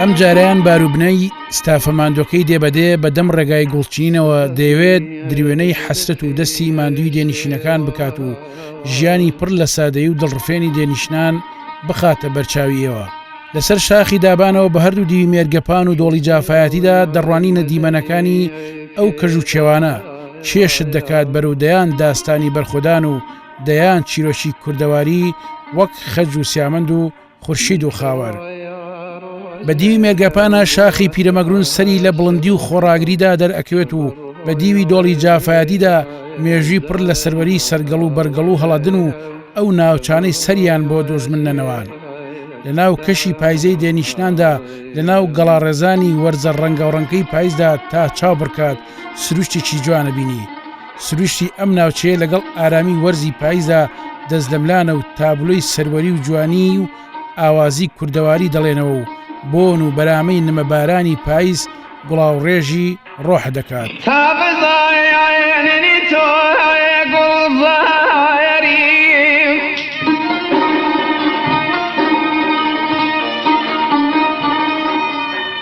ئەم جارەیان باروبنەی ستافە ماندۆکەی دێبەدێ بە دەم ڕێگای گوڵچینەوە دەیەوێت دروێنەی حەسرەت و دەستی ماندووی دێنشینەکان بکات و ژیانی پڕ لە سادەی و دڵڕفێنی دێنیشتان بخاتە بەرچاویەوە. لەسەر شاخی دابانەوە بە هەردوو دیوی مێرگەپان و دۆڵی جافایەتیدا دەڕوانی نەدیمەنەکانی ئەو کەژ و چێوانە کێشت دەکات بەرەو دەیان داستانی بەرخۆدان و دەیان چیرۆکی کوردەواری وەک خەج و سیامەند و خورشید و خاوەر بە دیوی مێرگەپانە شاخی پیرەمەگرون سەری لە بڵندی و خۆڕاگریدا دەرئەکەوێت و بە دیوی دۆڵی جافایەتیدا مێژوی پڕ لە سەروەری سەرگەڵ و بەرگەڵ و هەڵەدن و ئەو ناوچانەی سەریان بۆ دۆژمن نەنەوان لە ناو کەشی پایزەی دێنیشتاندا لە ناو گەڵاڕێزانی وەرزە ڕەنگاوڕەنگەی پایزدا تا چاو بڕکات سروشتێکی جوانە بینی سروشتی ئەم ناوچەیە لەگەڵ ئارامی وەرزی پایزدا دەست لەملانە و تابلۆی سەروەری و جوانی و ئاوازی کوردەواری دەڵێنەوە و بۆن و بەرامەی نمەبارانی پایز گوڵاوڕێژی ڕۆح دەکات.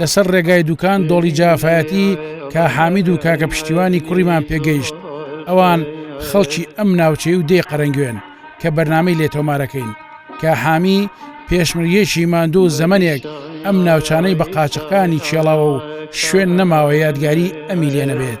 لەسەر ڕێگای دوکان دۆڵی جافایەتی کا حامید و کاکە پشتیوانی کوڕیمان پێگەیشت ئەوان خەڵکی ئەم ناوچەی و دێ قەرەنگوێن کە بەرنمەی لێ تۆمارەکەین کە حامی پێشمریەکی ماندوو و زەمنێک ئەم ناوچانەی بە قاچەکانی چێڵاوە و شوێن نەماوە یادگاری ئەمی لێ نەبێت.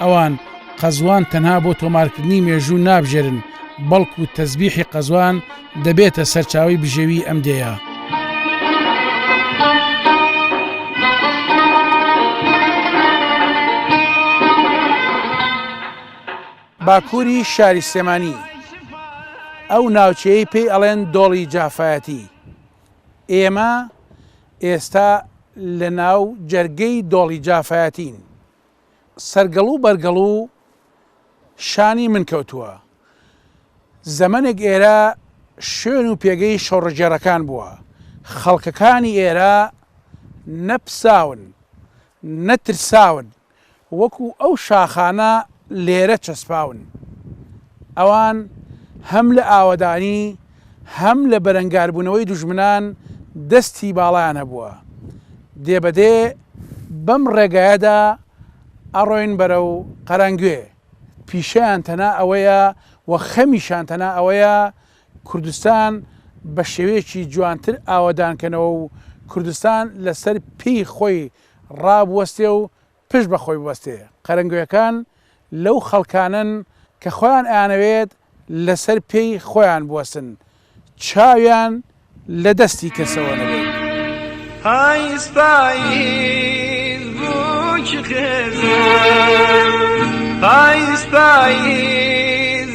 ئەوان قەزوان تەنها بۆ تۆمارکردنی مێژوو نابژێرن، بەڵکو تەزبیحی قەزوان دەبێتە سەرچاوەی بژێوی ئەم دێیە. باکوری شاری سلێمانی ئەو ناوچەیەی پێی ئەڵێن دۆڵی جافایەتی ئێمە ئێستا لە ناو جەرگەی دۆڵی جافایەتین سەرگەڵو بەرگەڵو شانی من کەوتووە. زەمەنێک ئێرە شوێن و پێگەی شۆڕشگێڕەکان بووە. خەڵکەکانی ئێرە نە پساون، نە ترساون، وەکو ئەو شاخانە لێرە چەسپاون. ئەوان هەم لە ئاوەدانی هەم لە بەرەنگاربوونەوەی دوژمنان دەستی باڵایان هەبووە، دێ بە دێ بەم ڕێگایەدا ئەڕۆین بەرەو قەرەنگوێ، پیشەیان تەنها ئەوەیە و خەمیشان تەنها ئەوەیە کوردستان بە شێوەیەکی جوانتر ئاوەدان کەنەوە و کوردستان لەسەر پێی خۆی ڕابوەستێ و پشت بە خۆی ببەستێ، قەرەنگوێکان لەو خەڵکانەن کە خۆیان ئەیانەوێت لەسەر پێی خۆیان بوەستن چاویان لە دەستی کەسەوە نەبێت. پایز پایز بوو چ خێزان پایز پایز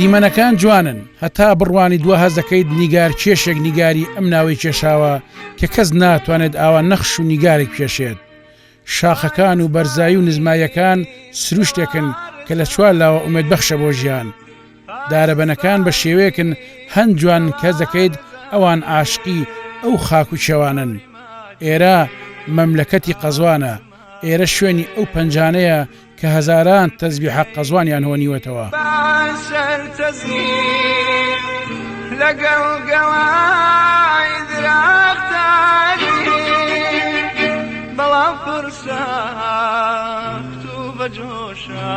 دیمەنەکان جوانن هەتا بڕوانی دو هەز دەکەیت نیگار کێشێک نیگاری ئەم ناوەی کێشاوە کە کەس ناتوانێت ئاوا نەخش و نیگارێک کێشێت شاخەکان و بەرزایی و نزمایەکان سروشتێکن کە لە چوار لاوە ئومێت بەخشە بۆ ژیان دارەبەنەکان بە شێوەیەکن هەن جوان کەس دەکەیت ئەوان ئاشقی ئەو خاک و کێوانەن ئێرە مەملەکەتی قەزوانە ئێرە شوێنی ئەو پەنجانەیە کە هەزاران تەزبیحە قەزوانیان هۆنیوەتەوە لەگەڵ گەوای دراختانی بەڵام فرسا تو بەجۆشە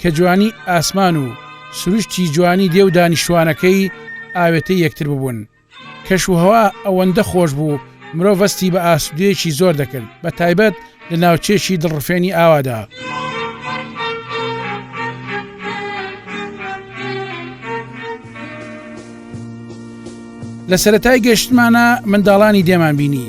کە جوانی ئاسمان و سروشتی جوانی دێ و دانیشتوانەکەی ئاوێتەی یەکتر ببوون. کەش و هەوا ئەوەندە خۆش بوو مرۆڤ هەستی بە ئاسودەیەکی زۆر دەکرد بە تایبەت لە ناوچەیەکی دڵڕفێنی ئاوادا. لە سەرەتای گەشتمانا منداڵانی دێمان بینی.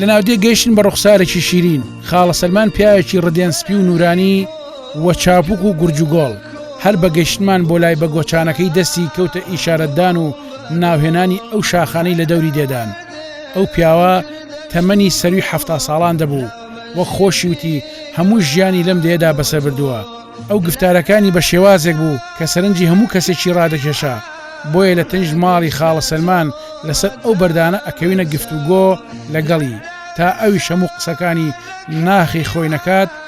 لە ناودێ گەیشتن بە ڕوخسارێکی شیرین خاڵە سەلمان پیاوێکی ڕدێن سپی و نورانی وە چاپوک و گورجوگۆڵ هەر بە گەشتمان بۆ لای بە گۆچانەکەی دەستی کەوتە ئیشارەتدان و ناوهێنانی ئەو شاخانەی لە دەوری دێدان ئەو پیاوە تەمەنی سەروی حفتا ساڵان دەبوو وەک خۆشی وتی هەموو ژیانی لەم دێدا بەسەر بردووە ئەو گفتارەکانی بە شێوازێک بوو کە سەرنجی هەموو کەسێکی ڕادەکێشا بۆیە لە تەنیش ماڵی خاڵە سەلمان لەسەر ئەو بەردانە ئەکەوینە گفتوگۆ لەگەڵی تا ئەویش هەموو قسەکانی ناخی خۆی نەکات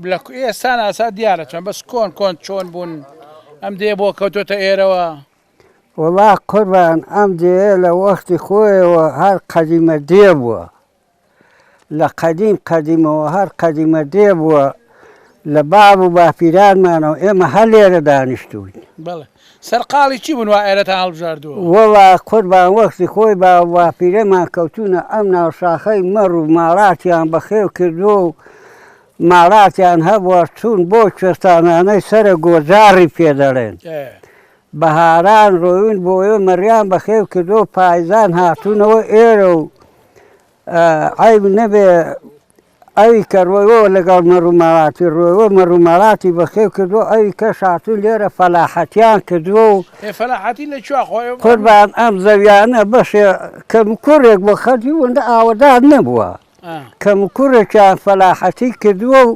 بلە کو ئێستا ناسا دیارە چۆن بەس کۆن کۆن چۆن بوون ئەم دێ بۆ کەوتۆتە ئێرەوە. وەڵا قوربان ئەم دێیە لە وەختی خۆیەوە هەر قەدیمە دێ بووە لە قەدیم قەدیمەوە هەر قەدیمە دێ بووە لە باب و باپیرانمانەوە ئێمە هەر لێرە دانیشتووین. بەڵێ. سەرقاڵی چی بوون وا ئێرەتان هەڵبژاردووە؟ وەڵا قوربان وەختی خۆی با و باپیرەمان کەوتوونە ئەم ناو شاخەی مەڕ و ماڵاتیان بەخێو کردووە و ماڵاتیان هەبووە چوون بۆ کوێستانانەی سەرە گۆجاڕی پێ دەڵێن بەهاران ڕۆیون بۆ ئێ مەڕیان بەخێو کردووە و پایزان هاتوونەوە ئێرە و عەیب نەبێ ئەوی کە ڕۆیوە و لەگەڵ مەڕ و ماڵاتی ڕۆیوە و مەڕ و ماڵاتی بەخێو کردووە و ئەوی کەش هاتوون لێرە فەلاحەتیان کردووە و. ئێ فەلاحەتی لە کوێ خۆ ئێوە. قوربان ئەم زەویانە بەشێ کەموکوڕێک بۆ خەڵکی ئەوەندە ئاوەدان نەبووە، کەموکوڕێکیان فەلاحەتی کردووە و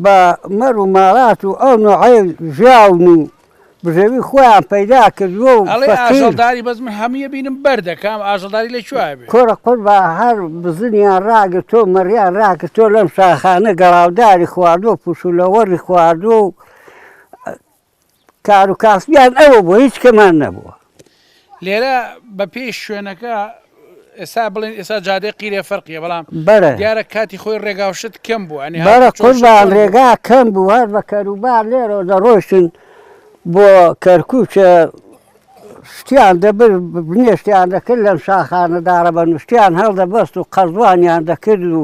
بە مەڕ و ماڵات و ئەو نۆعەی ژیاون و بژێوی خۆیان پەیدا کردووە و ئەڵێ فەقیر. ئاژەڵداری بەس من هەمووی ئەبینم بەردە کام ئاژەڵداری لە کوێ ئەبێ. کورە قوربان هەر بزنیان ڕاگرتووە و مەڕیان ڕاگرتووە لەم شاخانە گەڵاوداری خواردووە و پشوولەوەڕی خواردووە و کاروکاسبیان ئەوە بووە هیچ کەمان نەبووە. لێرە بە پێی شوێنەکە ئێستا بڵێن ئێستا جادەی قیرێ فەرقیە بەڵام بەرە دیارە کاتی خۆی ڕێگاوشت کەم بوو ئەنی بەرە قوربان ڕێگا کەم بوو هەر بە کەروبار لێرە دەڕۆشتن بۆ کەرکوچە شتیان دەبر بنێشتیان دەکرد لەم شاخانەدارە بە نوشتیان هەڵدەبەست و قەزوانیان دەکرد و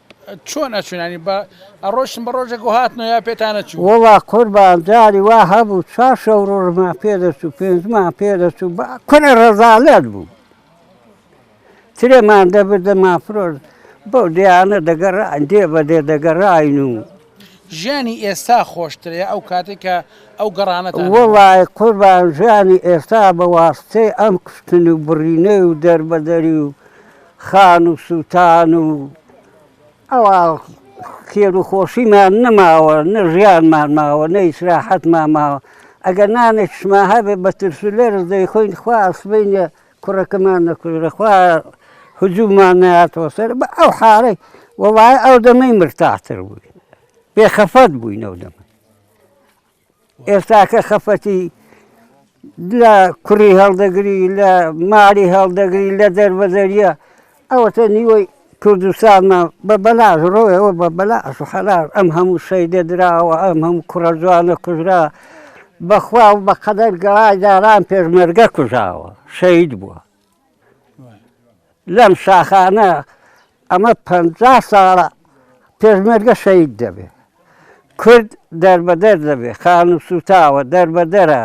چۆن ئەچون یانی بە ئەڕۆشتن بە ڕۆژێک و هاتنەوە یا پێتان نەچوو؟ وەڵا قوربان جاری وا هەبوو چوار شەو ڕۆژمان پێ دەچوو پێنجمان پێ دەچوو با کورە ڕەزالەت بوو ترێمان دەبرد دەمانفرۆشت بەو دێیانە دەگەڕاین دێ بە دێ دەگەڕاین و ژیانی ئێستا خۆشترە یا ئەو کاتێک کە ئەو گەڕانەتان هەبوو؟ وەڵای قوربان ژیانی ئێستا بە واستەی ئەم کوشتن و بڕینەی و دەربەدەری و خان و سووتان و ئەوا خێر و خۆشیمان نەماوە، نە ژیانمان ماوە، نە ئیسراحەتمان ماوە. ئەگەر نانێکشمان هەبێ بە ترس و لەرز دەیخۆین، خوایە سبەینێ کوڕەکەمان نەکوژرێ، خوایە هجووممان نەیاتەوە سەر. بە ئەو حاڵەی وەڵاهی ئەو دەمەی مرتاحتر بووین، بێخەفەت بووین ئەو دەمە. ئێستاکە خەفەتی لە کوڕی هەڵدەگری لە ماڵی هەڵدەگری لە دەربەدەریە ئەوەتە نیوەی کوردستانمان بە بەلاش ڕۆیەوە بە بەلاش و حەلال ئەم هەموو شەیدە دراوە ئەم هەموو کوڕە جوانە کوژرا بەخوا و بەقەدەر گەڵای جاران پێشمەرگە کوژاوە شەید بووە. لەم شاخانە ئەمە پەنجا ساڵە پێشمەرگە شەهید دەبێ، کورد دەربەدەر دەبێ، خانوو سووتاوە، دەربەدەرە،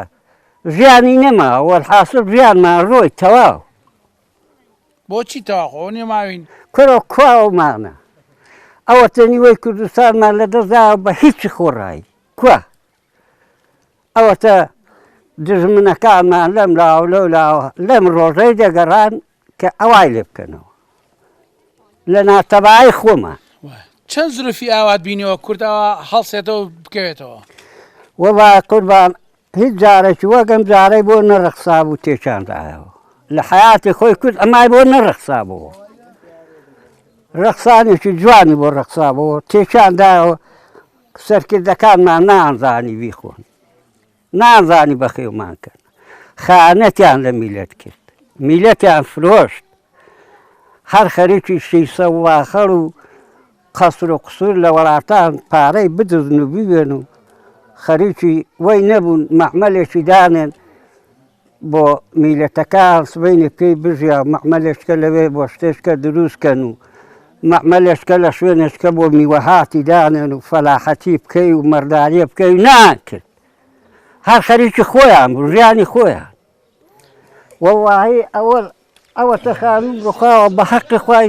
ژیانی نەما، وەلحاسڵ ژیانمان ڕۆی، تەواو. بۆچی تەواو؟ خۆ ئەوە نییە ماوین. کورە کوا ئەومانە؟ ئەوەتە نیوەی کوردستانمان لەدەست داوە بە هیچی خۆڕایی. کوا؟ ئەوەتە دوژمنەکانمان لەم لاوە لەو لاوە لەم ڕۆژەی دەگەڕان کە ئەوای لێ بکەنەوە لە ناتەبای خۆمان چەند زرفی ئاوات بینەوە کوردەوە هەڵسێتەوە بکەوێتەوە وەڵا قوربان هیچ جارێکی وەگەم جارەی بۆ نەڕەخسا بوو تێکاندایەوە لە حیاتی خۆی کورد ئەمای بۆ نەڕەخسا بووە ڕەخسانێکی جوانی بۆ ڕەخسا بووە تێکاندایەوە سەرکردەکانمان نانزانی بیخۆن نانزانی بەخێومان کەن خانەتیان لە میلەت کرد میلەتیان فرۆشت هەر خەریکی شیسە واخەڵ و قەسر و قسوور لە وەڵاتان پارەی بدزن و بوێن و خەریکی وەی نەبوون مەحمەلێکی دانێن بۆ میلەتەکە هەڵسبینێ پێی بژیا مەعمەلێچکە لەوێ بۆ شتێچکە دروست کەن و مەعمەلێچکە لە شوێنێچکە بۆ میوەهاتی دانێن و فەلاحەتی بکەی و مەرداریە بکەی و نەیان کرد هەر خەریکی خۆیان بوو ژیانی خۆیان وەڵاهی ئەوە ئەوەتە خانوو بخواوە بە حەقی خوای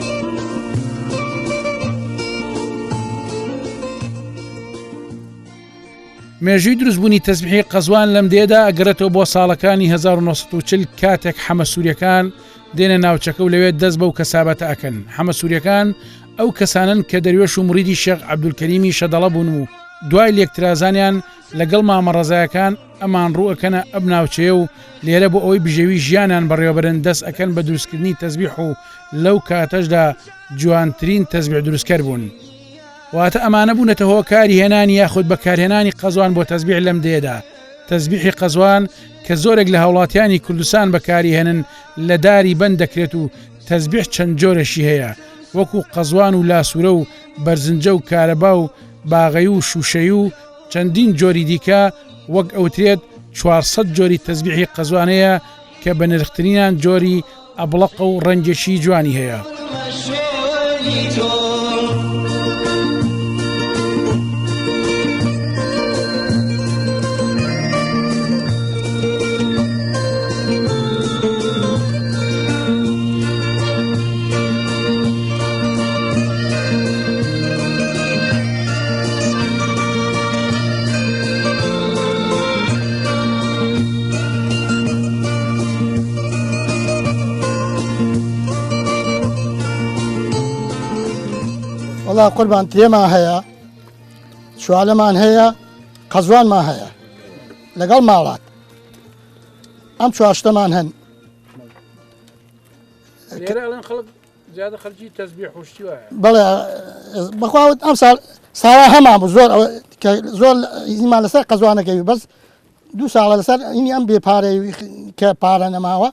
مێژوی دروستبوونی تەزبحی قەزوان لەم دێدا ئەگەرێتەوە بۆ ساڵەکانی 1940 کاتێک حەمە سوورەکان دێنە ناوچەکە و لەوێت دەست بەو کەسابەتە ئەکەن حەمە سوورەکان ئەو کەسانن کە دەروێش و مریدی شێخ عبدولکەریمی شەدەڵە بوون و دوای لێکترازانیان لەگەڵ مامەڕەزایەکان ئەمان ڕوو ئەکەنە ئەم ناوچەیە و لێرە بۆ ئەوەی بژێوی ژیانیان بەڕێوەبەرن دەست ئەکەن بە دروستکردنی تەزبیح و لەو کاتەشدا جوانترین تەزبیح دروستکەر بوون واتە ئەمانە بوونەتە هۆکاری هێنانی یاخود بەکارهێنانی قەزوان بۆ تەزبیح لەم دێدا تەزبیحی قەزوان کە زۆرێک لە هاوڵاتیانی کوردستان بەکاری هێنن لە داری بند دەکرێت و تەزبیح چەند جۆرەشی هەیە وەکو قەزوان و لاسوورە و بەرزنجە و کارەبا و باغەی و شوشەی و چەندین جۆری دیکە وەک ئەوترێت چوار سەد جۆری تەزبیحی قەزوان هەیە کە بە نرخترینان جۆری ئەبڵەقە و ڕەنگێکی جوانی هەیە. وڵا قوربان تێما هەیە چوالەمان هەیە قەزوانمان هەیە لەگەڵ ماڵات ئەم چواشتەمان هەن زیادە خەرجی تەزبیح و شتی وایە. بەڵێ بەخوا ئەمساڵ ساوا هەمان بوو زۆر زۆر ئیزنمان لەسەر قەزوانەکەوی بەس دوو ساڵە لەسەر ئینی ئەم بێ پارەی کە پارە نەماوە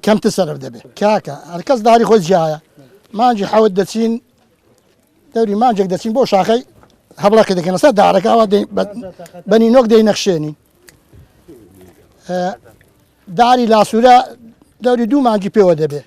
کەمتر سەرف دەبێت کاکە هەرکەس داری خۆی جیایە مانجی حەوت دەچین دەوری مانجێک دەچین بۆ شاخەی هەبڵەکە دەکەن لەسەر دارەکەەوە بەنی نۆک دەی نەخشێنین داری لاسوورە دەوری دوو مانجی پێوە دەبێت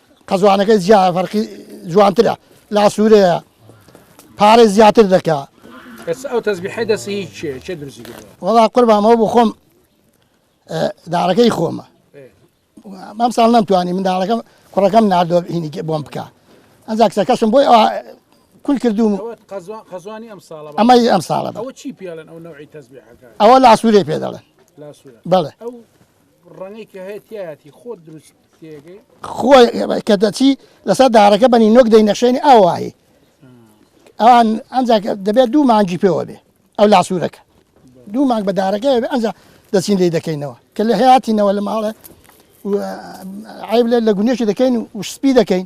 قەزوانەکەی جیا فەرقی جوانترە لا سوورەیە پارەی زیاتر دەکا بەس ئەو تەزبیحی دەسی چێ چێ درزی وڵا قوربامەوە بۆ خۆم دارەکەی خۆمە مام ساڵ نەمتوانی منداڵەکەم کوڕەکەم نردۆ هینی بۆم بکە ئەجا کچەکەشم بۆی ئەوە کول کردوم ئەمەی ئەم ساڵە ئەوە لاسوورێ پێ دەڵێن بەڵێ خۆی کە دەچی لەسەر داڕەکە بە نینۆک دەینەخشێنی ئاوایی ئەوان ئەمجا دەبێت دوو مانگی پێوە بێ ئەو لاسوورەکە دوو مانگ بە داڕەکە بێ ئەمجا دەچین لی دەکەینەوە کە لە هەیاتینەوە لە ماڵێ عیب لێ لە گونێشی دەکەین و سپی دەکەین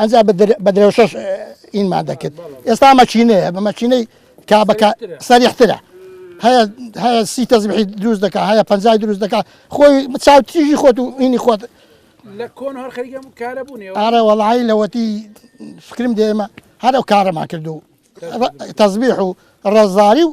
ئەجا بە درێوشەش ئینمان دەکرد ئێستا مەچینەیە بە مەچینەی کا بەکە سەریحترە هەیە هەیە سی تەزبحی دروست دەکە هەیە پنجای دروست دەکە خۆی چاو تیژی خۆت و ئینی خۆت لە کۆن هەر خەریکم کارە بوونێ ئارە وەڵی لەوەتی فکرم دێمە هەرو کارەمان کردو تەزبیح و ڕزاری و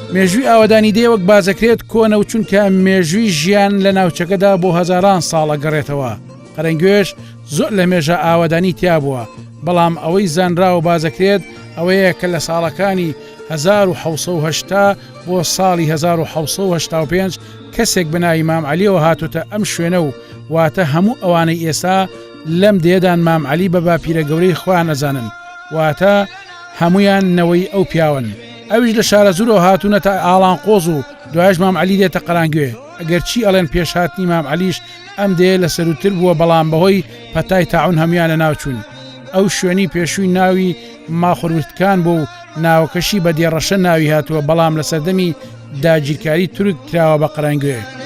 مێژووی ئاوەدانی دێ وەک بازەکرێت کۆنە و چونکە مێژووی ژیان لە ناوچەکەدا بۆ هەزاران ساڵە گەڕێتەوە قەرەنگوێش زۆر لە مێژە ئاوەدانی تیا بووە بەڵام ئەوەی زانراوە بازەکرێت ئەوەیە کە لە ساڵەکانی 1970 بۆ ساڵی 1970 کەسێک بەناوی مام علیەوە هاتوتە ئەم شوێنە و واتە هەموو ئەوانەی ئێستا لەم دێدان مام علی بە باپیرە گەورەی خۆیان ئەزانن واتە هەمویان نەوەی ئەو پیاون. ئەویش لە شارەزورەوە هاتونەتە ئاڵانقۆز و دوایش مام عەلی دێتە قەرانگوێ، ئەگەر چی ئەڵێن پێش هاتنی مام عەلیش ئەم دێیە لە سەرووتر بووە بەڵام بەهۆی پەتای تاعون هەموان لە ناو چوون. ئەو شوێنی پێشووی ناوی ماخوروستکان بوو و ناوەکەشی بە دێ ڕەشە ناوی هاتووە بەڵام لە سەردەمی داگیرکاری تورک کراوە بە قەرەنگوێ.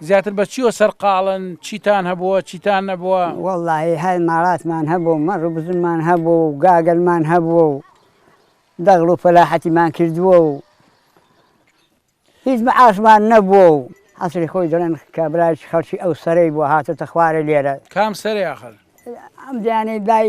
زیاتر بە چیوە سەرقاڵن؟ چیتان هەبووە چیتان نەبووە؟ وەڵاهی هەر ماڵاتمان هەبوو و مەڕ و بزنمان هەبوو و گاگەلمان هەبووە و دەغڵ و فەلاحەتیمان کردووە و هیچ معاشمان نەبووە و عەسری خۆی دەڵێن کابرایەکی خەڵکی ئەو سەرەی بووە هاتۆتە خوارێ لێرە. کام سەرێ ئاخر؟ ئەم دەیانەی لای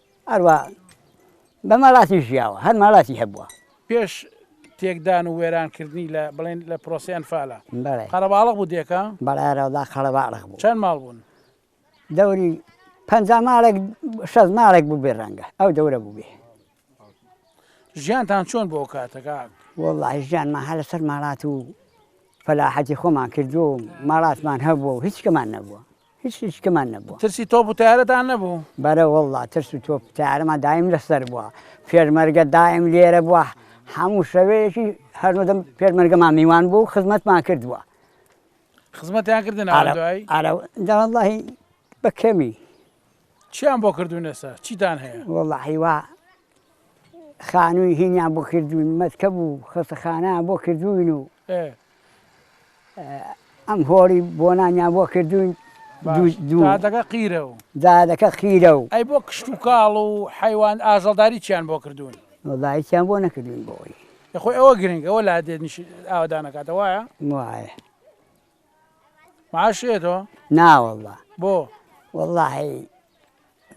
هەروا بە ماڵاتی ژیاوە، هەر ماڵاتی هەبووە. پێش تێکدان و وێرانکردنی لە بڵێن لە پرۆسەی ئەنفالە بەڵێ. قەرەباڵغ بوو دێکە؟ بەڵێ هەرەوەڵا قەرەباڵغ بوو. چەند ماڵ بوون؟ دەوری پەنجا ماڵێک شەست ماڵێک بووبێ ڕەنگە ئەو دەورە بووبێ. ژیانتان چۆن بوو ئەو کاتە کاک؟ وەڵڵا ژیانمان هەر لەسەر ماڵات و فەلاحەتی خۆمان کردووە و ماڵاتمان هەبووە و هیچ شتێکمان نەبووە. هیچ هیچکمان نەبوو ترسی تۆپ و تارەتان نەبوو بەرە وڵا ترس و تۆپ تارەمان دایم لەسەر بووە پێرمەرگە دایم لێرە بووە هەموو شەوەیەکی هەرنەدەم پێرمەرگەمان میوان بوو خزمەتمان کردووە خزمەتیان کردن ئەرەڵی بە کەمی چیان بۆ کردوونەسا چیتان هەیە وڵا هیوا خانووی هینیان بۆ کردووین، مەتکەب و خەستەخانەیان بۆ کردووین و ئەم هۆڵی بۆنانیان بۆ کردووین، دادەکە قیرە و دادەکە قیرە و. ئەی بۆ کشت و کاڵ و حەیوان ئاژەڵداری چیان بۆ کردوون؟ وەڵا هیچیان بۆ نەکردووین بۆ ئەوی. خۆی ئەوە گرنگە ئەوە لادێ ئاوەدان ئەکاتەوە وایە؟ وایە. معاشی ئەیتەوە؟ نا واللە. بۆ؟ واللە هەی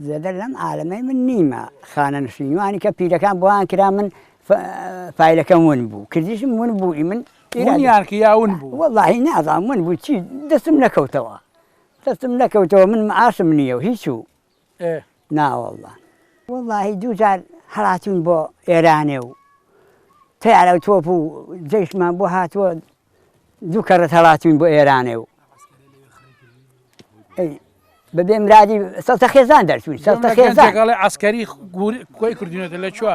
زێدە لەم عالەمەی من نیمە خانە نشین وانی کە پیرەکان بۆیان کرا من فایلەکەم ون بوو کردیشم ون بوو ئی من ونیان کە یا ون بوو واللە هی نازان ون بوو چی دەستم نەکەوتەوە دەستم نەکەوتەوە من معاشم نییە و هیچ و نا واللە واللە هی دوو جار هەڵاتوون بۆ ئێرانێ و تەیارە و تۆپ و جەیشمان بۆ هاتووە دوو کەڕەت هەڵاتوین بۆ ئێرانێ و بەبێ مرادی سەڵتە خێزان دەرچوین سەڵتە خێزانڵێ ئاسکەری کۆی کردوینەتە لە چوە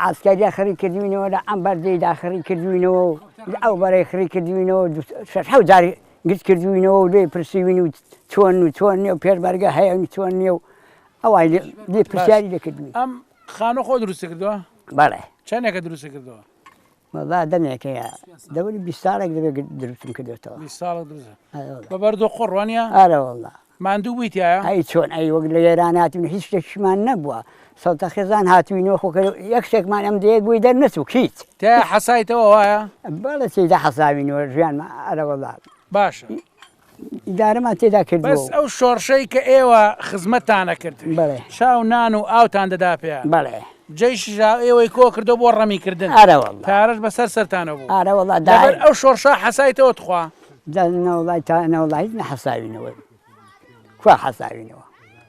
ئاسکاریا خڕی کردوینەوە لە ئەم بەردەی داخڕی کردوینەوە و ئەو بەرەی خڕی کردوینەوە حو جاری گرت کردوینەوە و لێ پرسیوین و چۆن و چۆن نیە و پێربەرگە هەیە چۆن نیە و ئەوان لێ پرسیاری لەکردوین ئەم خانۆ خۆ دروست کردووە بەڵێ چەندێکە دروست کردەوە وەڵا دەمێکە یا دەوری بیست ساڵێک دەبێ دروستم کردوێتەوە بیست ساڵێک دروست ئەرێ وەڵا بە بەرد و قوڕ وانە ئەرێ وەڵا ماندوو بوویتایە ئەی چۆن ئەی وەک لە ئێران هاتوین هیچ شتێکیشمان نەبووە سەوتە خێزان هاتوینەوە خۆ کەرە یەک شتێکمان ئەم دەیە گوی دەرنەچوو هیچ تێ حەسایتەوە وایە بەڵێ تێیدا حەساوینەوە ژیانمان ئەرێ وەڵا باشە ئیدارەمان تێدا کردووە بەس ئەو شۆڕشەی کە ئێوە خزمەتتان ئەکرد بەڵێ چاو نان و ئاوتان دەدا پێیان بەڵێ جەیشیش ها ئێوەی کۆ کردەوە بۆ ڕەمیکردن ئارە وەڵڵا پارەش بەسەر سەرتانە بوو ئارە وەڵڵا دا لەبەر ئەو شۆڕشە حەسایتەوە تخوا دا نەوەڵای تا نەوەڵا هیچ نەحەساوینەوە کوا حەساوینەوە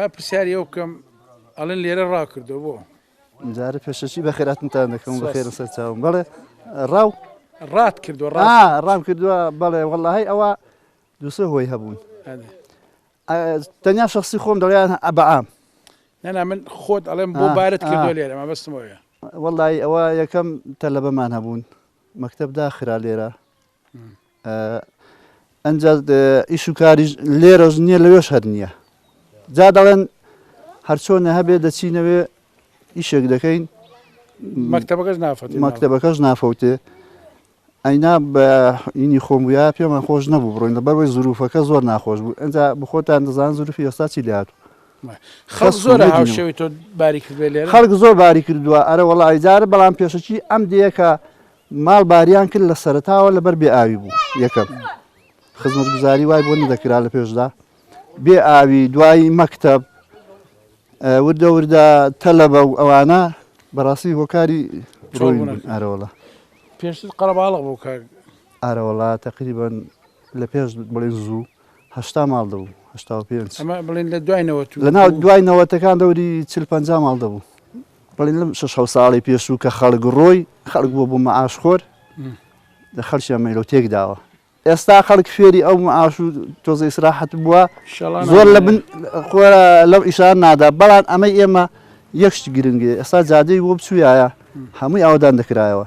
با پرسیاری ئەو بکەم ئەڵێن لێرە ڕاکردەوە بۆ جارە پێشەکی بە خێراتنتان دەکەم بە خێرە سەر چاوم بڵێ ڕاو ڕات کردو ڕام کردووە بەڵێ وەڵی ئەوە دوو سێ هۆی هەبوون تەنیا شخصی خۆم دەڵێن ئەبعام نەنا من خۆت ئەڵێم بۆ بارت کردو لێرە مە بەستمەوەە وەڵی ئەوە یەکەم تەلەبەمان هەبوون مەکتب داخرا لێرە ئەنج ئیش و کاری لێرەش نییە لەوێش هەر نییە جا دەڵێن هەرچۆنە هەبێ دەچینەوێ ئیشێک دەکەین مەکتتەبەکەش نافەت مەکتتەبەکەش نافەوتێ ئەینا بە ئینی خۆم بووە پێمان خۆش نەبوو بڕۆین لە بەرەوەی زروفەکە زۆر ناخۆش بوو ئەجا بخۆتان دەزان زروفی ئێستا چی لات خەڵ زۆر هاوشێوی تۆ باری کردێ لێ خەڵک زۆر باری کردووە ئەرە وڵ ئایدارە بەڵام پێشەکی ئەم دەیەکە ماڵ باریان کرد لە سەرتاوە لەبەر بێ ئاوی بوو یەکەم خزمەت گوزاری وای بۆ نەدەکرا لە پێشدا بێ ئاوی دوایی مەکتب وردە وردە تەلەبە و ئەوانە بەڕاستی هۆکاری ئەرەوەڵە پێشتر قەرەباڵق بوو کە ئارەوەڵا تقریبان لە پێش بڵێ زوو هەشتا ماڵ دەبوو هشتا پێ بڵێن لە دوایەوە لە ناو دوایەوەتەکان دەوری چل پ ماڵ دەبوو بڵێن لەم شش ساڵی پێشوو کە خەڵک ڕۆی خەڵک بووە بۆ مەعاش خۆر لە خەرشیان مەلۆ تێک داوە ئێستا خەڵک فێری ئەو معاش و تۆزە ئیسراحەت بووە زۆر لە بن لەو ئیشان نادا بەڵام ئەمەی ئێمە یەکشت گرنگێ ئێستا جادەی بۆ بچوویایە هەمووی ئاودان دەکرایەوە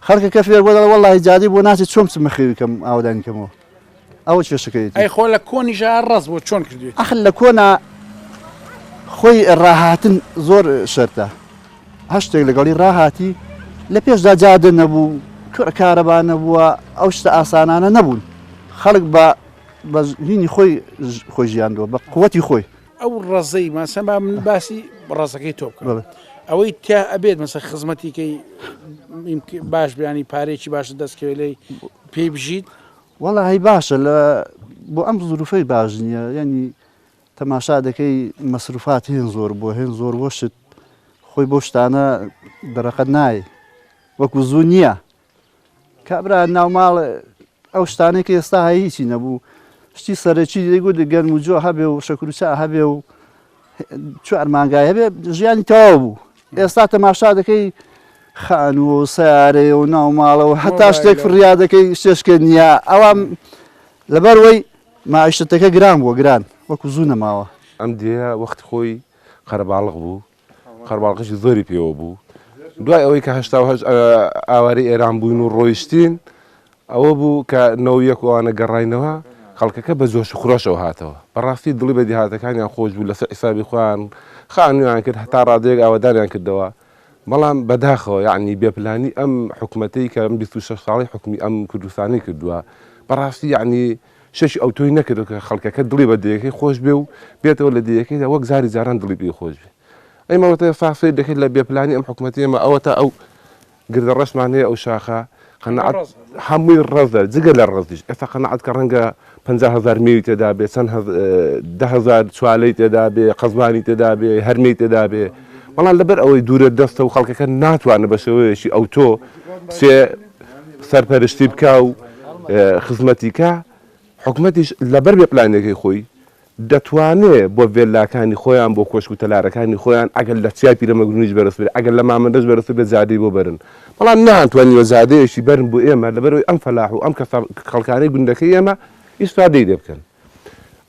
خەڵکە کە فێر بۆ دەڵ وڵی جادی بۆ ناچێت چۆم چ مەخێویکەم ئاودانی کەمەوە ئەوە چێشەکەیت ئەی خۆ لە کۆنی ژە ڕز بۆ چۆن کردێت ئەخل لە کۆنا خۆی ڕاهاتن زۆر شەرتە هەشتێک لەگەڵی ڕاهاتی لە پێشدا جادە نەبوو کارەبا نەبووە ئەو شتە ئاسانانە نەبوون خەڵک بە بەژینی خۆی خۆی ژیاندووە بە قوتی خۆی ئەو ڕزەی ماسەما من باسی ڕزەکەی تۆ بکە ئەوەی تیا ئەبێت مەسە خزمەتیکەی باش بیانی پارێکی باش دەستکەوێ لی پێی بژیت وەڵی باشە لە بۆ ئەم زروفەی باش نییە ینی تەماشا دەکەی مەسروفات هێن زۆر بووە هێن زۆر بۆ شت خۆی بۆ شتانە دەرەقەت نایە وەکو زوو نییە کابرا ناوماڵ ئەو شتانەی کە ئێستا هیچی نەبوو شتی سەرەکی دەیگوت گەرم و جۆ هەبێ و شەکروچە هەبێ و چوار مانگای هەبێ ژیانی تەواو بوو ئێستا تەماشا دەکەی خانوو و سیارەیە و ناوماڵەوە هەتا شتێک فریا دەکەی شتێشکە نییە ئەوان لەبەر وەی مەعیشەتەکە گران بووە گران وەکو زوو نەماوە. ئەم دێیە وەختی خۆی قەرەباڵغ بوو قەرەباڵغیی زۆری پێوە بوو دوای ئەوەی کە هەشتا و هەشت ئاوارەی ئێران بووین و ڕۆیشتین ئەوە بوو کە نەوەو یەک و ئەوانە گەڕاینەوە خەڵکەکە بە جۆش و خرۆشەوە هاتەوە بەڕاستی دڵی بە دێهاتەکانیان خۆش بوو لەسەر حیسابی خۆیان خانوویان کرد هەتا ڕادەیەک ئاوەدانیان کردەوە. بەڵام بەداخەوە یەعنی بێ پلانی ئەم حکومەتەی کە ئەم بیست و شەش ساڵەی حکومی ئەم کوردستانەی کردووە بەڕاستی یەعنی شەش ئەوتۆی نەکردو کە خەڵکەکە دڵی بە دەیەکەی خۆش بێ و بێتەوە لە دەیەکەیدا وەک زاری جاران دڵی پێی خۆش بێ ئەی مەڵەتێ سا سەیر دەکەیت لە بێ پلانی ئەم حکومەتی ئێمە ئەوەتا ئەو گردە ڕەشمان هەیە ئەو شاخە قەناعەت ڕەزە. هەمووی ڕەزە جگە لە ڕەزیش ئێستا قەناعەت کە ڕەنگە پەنجا هەزار مێوی تێدا بێ چەند هەز- ە، دە هەزار چوالەی تێدا بێ قەزوانی تێدا بێ هەرمێی تێدا بێ بەڵام لەبەر ئەوەی دوورە دەستە و خەڵکەکە ناتوانێ بە شێوەیەکی ئەوتۆ بچێ سەرپەرشتی بکا و ە، خزمەتی کا حکومەتیش لەبەر بێ پلانەکەی خۆی دەتوانێ بۆ ڤێللاکانی خۆیان بۆ کۆشک و تەلارەکانی خۆیان ئەگەر لە چیای پیرەمەگرونیش بەرز بێت ئەگەر لە مامەندەش بەرزتر بێت زادەی بۆ بەرن بەڵام نانتوانیوە زادەیەکی بەرن بۆ ئێمە لەبەرەوەی ئەم فەلاح و ئەم کەسە خەڵکانەی گوندەکەی ئێمە ئیسفادەی لێ بکەن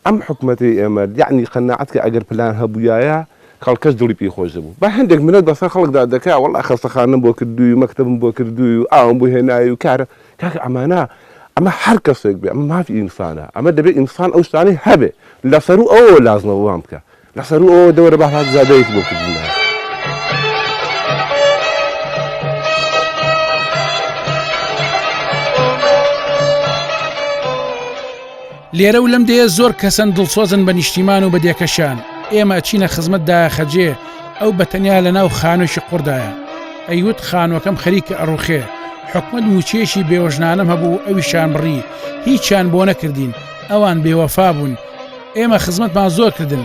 ئەم حکومەتەی ئێمە یەعنی قەناعەت کە ئەگەر پلان هەبوویایە خەڵکەش دڵی پێی خۆش دەبوو با هەندێک منەت بەسەر خەڵکدا دەکا وەڵا خەستەخانەم بۆ کردووی و مەکتەبم بۆ کردووی و ئاوم بۆ هێناوی و کارە کاکە ئەمانە ئەمە هەر کەسێک بێ ئەمە مافی ئینسانە ئەمە دەبێ ئینسان ئەو شتانەی هەبێ لە سەرو ئەوەوە لازمەوەوان بکە لە سەرو ئەوە دەوەرە بە هاات زادەیەکی بۆ کردنە. لێرە و لەم دێیە زۆر کەسن دڵسۆزن بە نیشتیمان و بە دێکەشیان، ئێمە ئەچینە خزمەت دایەخەجێ، ئەو بە تەنیا لە ناو خانوێکی قوڕدایە، ئەیوت خانووەکەم خەریکە ئەڕووخێ، حکومەت مووچەیەکی بێوەژنانەم هەبوو ئەویشیان بڕی، هیچیان بۆ نەکردین، ئەوان بێوەفا بوون، ئێمە خزمەتمان زۆر کردن،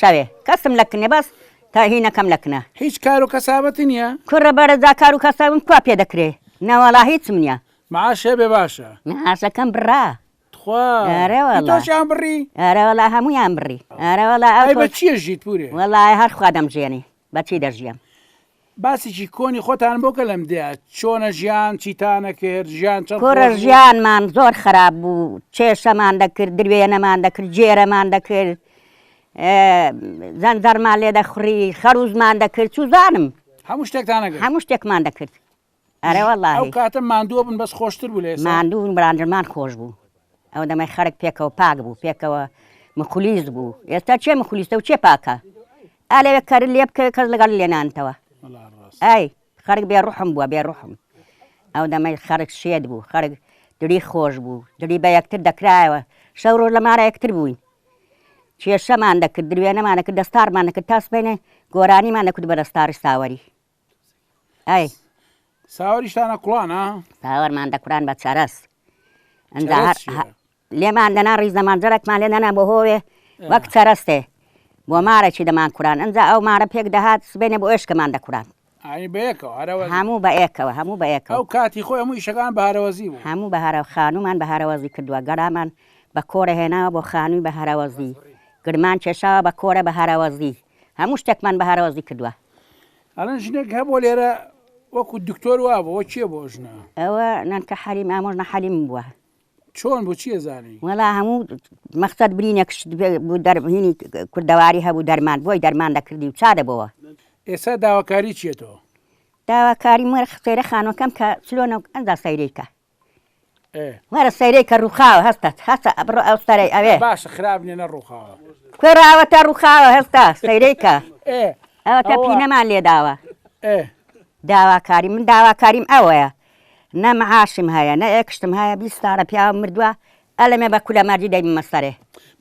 شەوێ کەسم لە کنێ بەس تا هی نەکەم لە کنە. هیچ کار و کەسابەتی نیە؟ کوڕە بەرە جا کار و کەسابم کوا پێ دەکرێ نەوەڵا هیچم نیە. معاش هەبێ باشە. معاشەکەم بڕا. تخوا. ئەرێ وەڵا. هی تۆشیان بڕی؟ ئەرێ وەڵا هەموویان بڕی. ئەرێ وەڵا ئەو. ئەی بە چی ئەژیت پورێ؟ وەڵا هەر خوا دەمژێنی بە چی دەژیم. باسێکی کۆنی خۆتان بۆ کە لەم دێیە چۆنە ژیان چیتانە کرد ژیان چەند خۆش کوڕە بوو؟ ژیانمان زۆر خراپ بوو چێشەمان دەکرد دروێنەمان دەکرد گێرەمان دەکرد ئێ زەنجەڕمان لێ دەخوڕی خەروزمان دەکرد چوزانم هەموو شتێکتان ئەکرد؟ هەموو شتێکمان دەکرد. ئەرێ وەڵاهی. ئەو کاتە ماندووە بن بەس خۆشتر بوو لە ئێستا. ماندوو بن بەڵام دڵمان خۆش بوو ئەو دەمەی خەرک پێکەوە پاک بوو پێکەوە مخلیس بوو ئێستا چێ مخلیسە و چێ پاکە ئا لەوێ کەر لێ بکەوێ کەس لەگەڵ لێ نانتەوە ئای خەرک بێ ڕوحم بووە بێ ڕوحم ئەو دەمەی خەرک شێت بوو خەرک دلی خۆش بوو دلی بە یەکتر دەکرایەوە شەو ڕۆژ لەمارە یەکتر بووین کێشەمان دەکرد دروێنەمان دەکرد دەستارمان دەکرد تاسبێنێ گۆرانیمان دەکرد بە دەستاری ساوەری ئەی ساوەریشتانە کوڵانە ساوەرمان دەکوران بە چەرەس ئەنجا هەر لێمان دەنا ڕیز دەمان جەرەکمان لێ نەنا بۆ هۆێ وەک چەرەستێ بۆ مارەی دەمان کوران ئەنجا ئەو مارە پێک دەهات سبێنێ بۆ ئێشکەمان دەکوران هەموو بە ئێکەوە هەموو بە ئێکەوە ئەو کاتی خۆی هەموو شەکان بارەوەزی بوو هەموو بە هەرە خانومان بە هەرەوەزی کردووە گەرامان بە کۆرە هێناوە بۆ خانووی بە هەرەوەزی گرمان کێشاوە بە کۆرە بە هەرەوەزی هەموو شتێکمان بە هەرەوەزی کردوە. ئەڵێن ژنێک هەبووە لێرە وەکو دکتۆر وابوو ئەوە کێ بوو ئەو ژنە؟ ئەوە نەنکە حەلیم ئامۆژ نە حەلیم بووە. چۆن بوو چییە زانی؟ وەڵا هەموو مەقسەد برینێک بوو دەربهینی کوردەواری هەبوو دەرمان بۆی دەرمان دەکردی و چا دەبەوە. ئێستا داواکاری چییە تۆ؟ داواکاریم وەرە سەیرە خانووەکەم کە چلۆنە و ئەنجا سەیرەی کە. ئێ. وەرە سەیرەی کە ڕووخاوە هەستە هەستە بڕۆ ئەو سەرەی ئەوێ. باشە خراپ نیە نەڕووخاوە. کوڕە ئەوەتا ڕووخاوە هەستە سەیرەی کە. ئێ. ئەوەتا ئەوە. پینەمان لێ داوە. ئێ. داواکاری من داواکاریم ئەوەیە نە معاشم هەیە نە ئێکشتم هەیە بیست ساڵە پیاوم مردوە ئەلەمێ بە کولە مەردی دەیبمە سەرێ.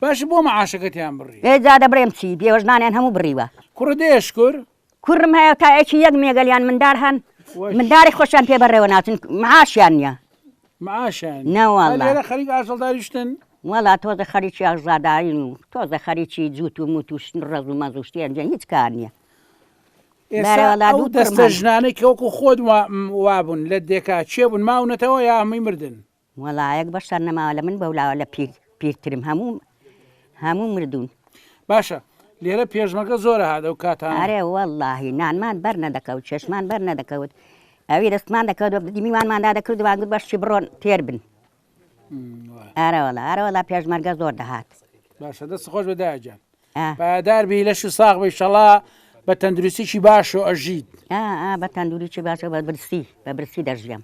باشە بۆ معاشەکەتیان بڕی. ئێ جا دەبرێم چی بێوەژنانیان هەموو بڕیوە. کوڕە دەیە شکور کوڕم هەیە تایەکی یەک مێگەلیان مندار هەن منداری خۆشیان پێ بەڕێوە ناچن معاشیان نیە معاشیان ناوەڵێرە خەریک ئاژەڵداریشتن وەڵا تۆزە خەریکی ئاغزاداین و تۆزە خەریکی جووت و موت و شن ڕەز و مەزوشتیان جە هیچ کار نییە دەستە ژنانێک کەوەکو خۆت وابوون لە دێکا چێ بوون ماونەتەوە یا هەمووی مردن وەڵایەک بەشەر نەماوە لە من بەولاوە لە پیر پیرترم هەموو هەموو مردوون. باشە لێرە پێشمەگە زۆرە هات ئەو کاتانە. ئەرێ وەڵاهی نانمان بەر نەدەکەوت چێشمان بەر نەدەکەوت ئەوی دەستمان دەکەوت بە میوانمان دادەکرد وان گوت بەشی بڕۆن تێر بن ئارەوەڵا ئارەوەڵا پێشمەرگە زۆر دەهات باشە دەست خۆش بە داجان پایدار بی لەش و ساغ بی شەڵا بە تەندروستیی باش و ئەژیت بە تەندوریی باشە بە برسی بە برسی دەژیەم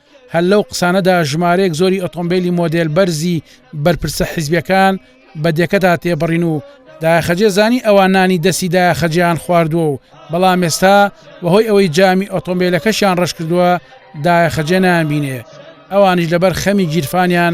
هەر لەو قسانەدا ژمارەیەک زۆری ئۆتۆمبیلی مۆدێل بەرزی بەرپرسە حیزبیەکان بە دێکەدا تێبڕین و داخەجێ زانی ئەوان نانی دەستی داخەجیان خواردووە و بەڵام ئێستا بەهۆی ئەوەی جامی ئۆتۆمبیلەکەشیان ڕش کردووە داخەجێ نامبینێ ئەوانیش لەبەر خەمی گیرفانیان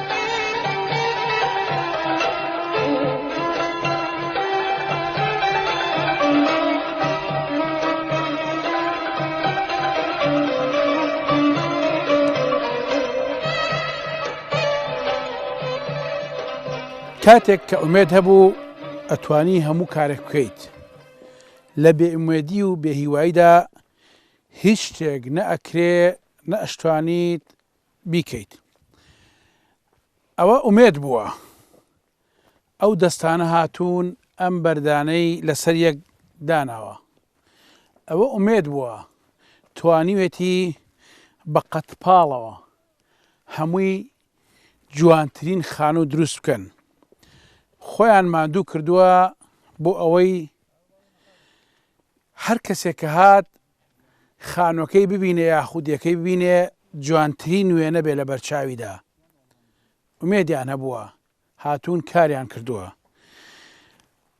کاتێک کە ئومێد هەبوو ئەتوانی هەموو کارێک بکەیت لە بێئومێدی و بێهیواییدا هیچ شتێک نە ئەکرێ نە ئەشتوانیت بیکەیت ئەوە ئومێد بووە ئەو دەستانە هاتوون ئەم بەردانەی لەسەر یەک داناوە ئەوە ئومێد بووە توانیوێتی بە قەتپاڵەوە هەمووی جوانترین خانوو دروست بکەن خۆیان ماندوو کردووە بۆ ئەوەی هەر کەسێک کە هات خانوەکەی ببینێ یا خودیەکەی ببینێ جوانترین وێنە بێ لە بەرچاویدا ئومێدیان هەبووە هاتوون کاریان کردووە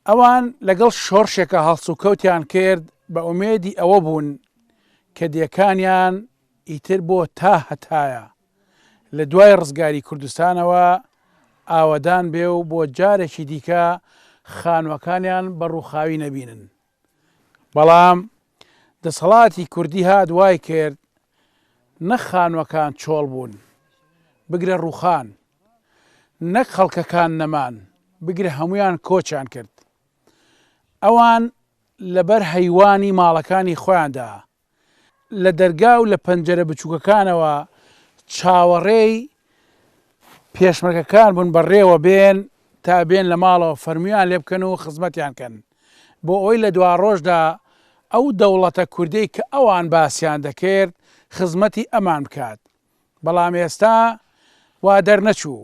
ئەوان لەگەڵ شۆڕشێکە هەڵس و کەوتیان کرد بە ئومێدی ئەوە بوون کە دێکانیان ئیتر بۆ تا هەتایە لە دوای ڕزگاری کوردستانەوە ئاوەدان بێ و بۆ جارێکی دیکە خانوەکانیان بە ڕووخاوی نەبینن بەڵام دەسەڵاتی کوردی هات وای کرد نەک خانووەکان چۆڵ بوون، بگرە ڕووخان، نەک خەڵکەکان نەمان، بگرە هەموویان کۆچیان کرد. ئەوان لەبەر هەیوانی ماڵەکانی خۆیاندا لە دەرگا و لە پەنجەرە بچووکەکانەوە چاوەڕێی پێشمەرگەکان بوون بەڕێوە بێن تا بێن لە ماڵەوە فەرمویان لێ بکەن و خزمەتیان کەن بۆ ئەوەی لە دواڕۆژدا ئەو دەوڵەتە کوردەی کە ئەوان باسیان دەکرد خزمەتی ئەمان بکات بەڵام ئێستا وا دەرنەچوو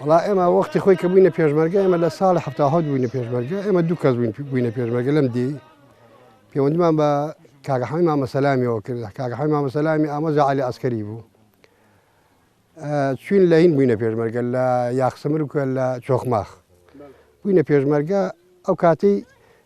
وڵا ئێمە وەختی خۆی کە بووینە پێشمەرگە ئێمە لە ساڵی هەفتا هەوت بووینە پێشمەرگە ئێمە دوو کەس بووین بووینە پێشمەرگە لەم دی پەیوەندیمان بە کاگەحەی مامەسەلامیەوە کرد کاگەحەی مامەسەلامی ئامۆزا علی ئەسکەری بوو چوین لە هین بووینە پێشمەرگە لە یاخسمر و لە چۆخماخ بووینە پێشمەرگە ئەو کاتی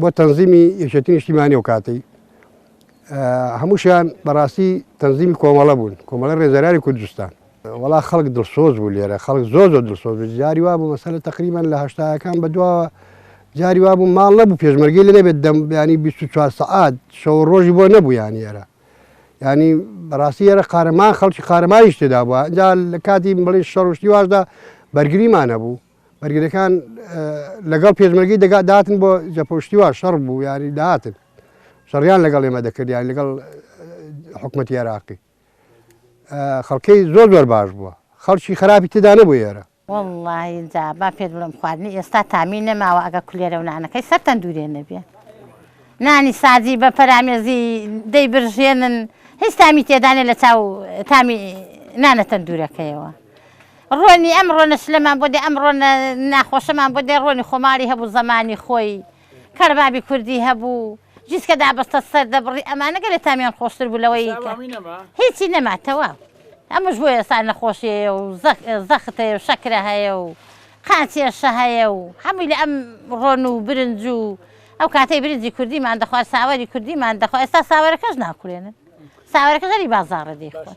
بۆ تەنزیمی یەکێتی نیشتیمانی و کاتی هەمووشیان بەڕاستی تەنزیمی کۆمەڵە بوون کۆمەڵە ڕێزەرانی کوردستان وڵا خەڵک دڵسۆز بوو لێرە خەڵک زۆر زۆر دڵسۆز بوو جاری وا بوو مەسەلە تقریبان لە هەشتاکان بەدواوە جاری وا بوو ماڵ نەبوو پێشمەرگی لە نەبێت دەم ینی 24 سعات شەو ڕۆژی بۆ نەبوو یان ێرە ینی بەڕاستی ێرە قارەمان خەڵکی قارەمانیش تێدا بووە جا لە کاتی بڵێ شەڕشتی واشدا بەرگریمانە بوو بەرگریەکان لەگەڵ پێشمەرگی دەگات داتن بۆ جەپۆشتیوە شەڕ بوو یاری داتن شەڕیان لەگەڵ ئێمە دەکردیان لەگەڵ حکوومەت عێراقی خەڵکەی زۆر زۆر باش بووە خەڵکی خراپی تدانە بۆ ئێرە وڵیدا با پێت بڵم خواردنی ئێستا تامی نەماوە ئەگە کولێرە و نانەکەی سەرتەن دوورێ نەبێ نانی سازی بە پەرامێزی دەی برژێنن هیچ تامی تێدانێ لە چاو تامی نانەتەن دوورەکەیەوە ڕۆنی ئەم ڕۆنە سلەمان بۆ دێ ئەم ڕۆنە ناخۆشەمان بۆ دێ ڕۆنی خۆماڵی هەبوو زەمانی خۆی کەربابی کوردی هەبوو جیسکە دابەستە سەر دەبڕی ئەمانە گەلێ تامیان خۆشتر بوو لەوەی کە هیچی نەما تەواو ئەمش بۆ ئێستا نەخۆشیەیە و زەخت هەیە و شەکرە هەیە و قاچێشە هەیە و هەمووی لە ئەم ڕۆن و برنج و ئەو کاتەی برنجی کوردیمان دەخوارد ساوەری کوردیمان دەخوا ئێستا ساوەرەکەش ناکولێنن ساوەرەکە زەری بازاڕە دەیخۆن.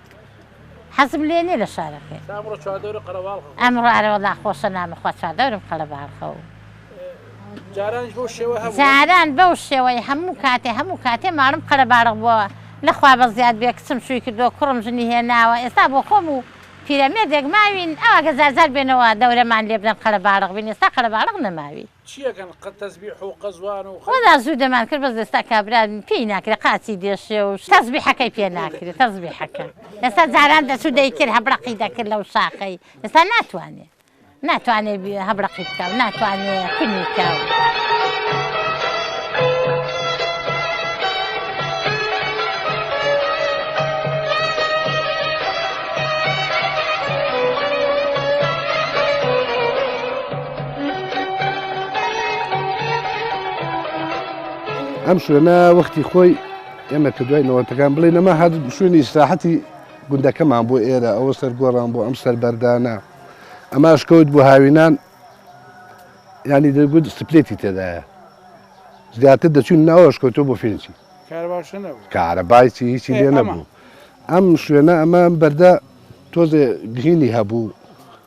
حەزم لێ نیە لە شارەکەی. تا ئەمڕۆ چواردەورە قەرەباڵخە خۆشە. ئەمڕۆ ئەرە وەڵا خۆشە نامە خوا چواردەورم قەلەباڵخە و. جارانیش بەو شێوە هەبوو. جاران بەو شێوەی هەموو کاتێ هەموو کاتێ ماڵم قەرەباڵخ بووە لە خوا بەزیاد بێ کچم شووی کردووە کوڕم ژنی هێناوە ئێستا بۆ خۆم و پیرەمێردێک ماوین ئەو ئەگە جار جار بێنەوە دەورەمان لێ بدەن قەلەباڵخ بین ئێستا قەلەباڵخ نەماوی. چیەکەن قە تەزبیح و قەزوان و. وەڵا زوو دەمان کرد بەس لەستا کابرا پێی ناکرێ قاچی دێشێ و تەزبیحەکەی پێ ناکرێ تەزبیحەکە ئێستا جاران دەچوو دەیکرد هەبرەقی دەکرد لەو شاخەی ئێستا ناتوانێ ناتوانێ هەبرەقی بکا و ناتوانێ کونی کا و. ئەم شوێنە وەختی خۆی ئێمە کە دوای نەوەتەکان بڵێ نەما هەر شوێنی ئیسراحەتی گوندەکەمان بۆ ئێرە ئەوە سەر گۆڕان بۆ ئەم سەر بەردانە ئەماش کەوت بۆ هاوینان ینی دەگوت سپلێتی تێدایە زیاتر دەچون ناوەش کەوتۆ بۆ فێنچی کارەبایچی هیچی لێ نەبوو ئەم شوێنە ئەمە بەردە تۆزێ گهینی هەبوو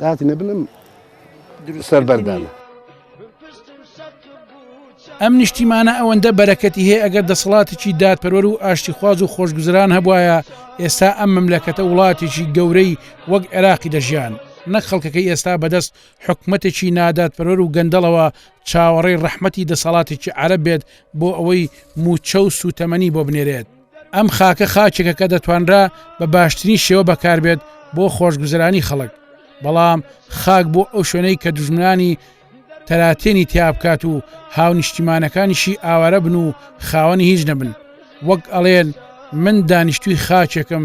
دات نەبنم سەربەردانە. ئەم نیشتیمانە ئەوەندە بەرەکەتی هەیە ئەگەر دەسەڵاتێکی دادپەروەر و ئاشتیخواز و خۆشگوزران هەبواە ئێستا ئەم مەملەکەتە وڵاتێکی گەورەی وەک عێراقی دەژیان نەک خەڵکەکەی ئێستا بەدەست حکومەتێکی نادادپەرۆر و گەندەڵەوە چاوەڕێی ڕەحمەتی دەسەڵاتێکی عرب بێت بۆ ئەوەی موچە و سوتەمەنی بۆ بنێرێت ئەم خاکە خاچێکە کە دەتوانرا بە باشترین شێوە بەکاربێت بۆ خۆشگوزرانی خەڵک بەڵام خاک بۆ ئەو شوێنەی کە دژمنانی تەراتێنی تیا بکات و هاونیشتیمانەکانیشی ئاوارە بن و خاوەنی هیچ نەبن وەک ئەڵێن من دانیشتوی خاچێکم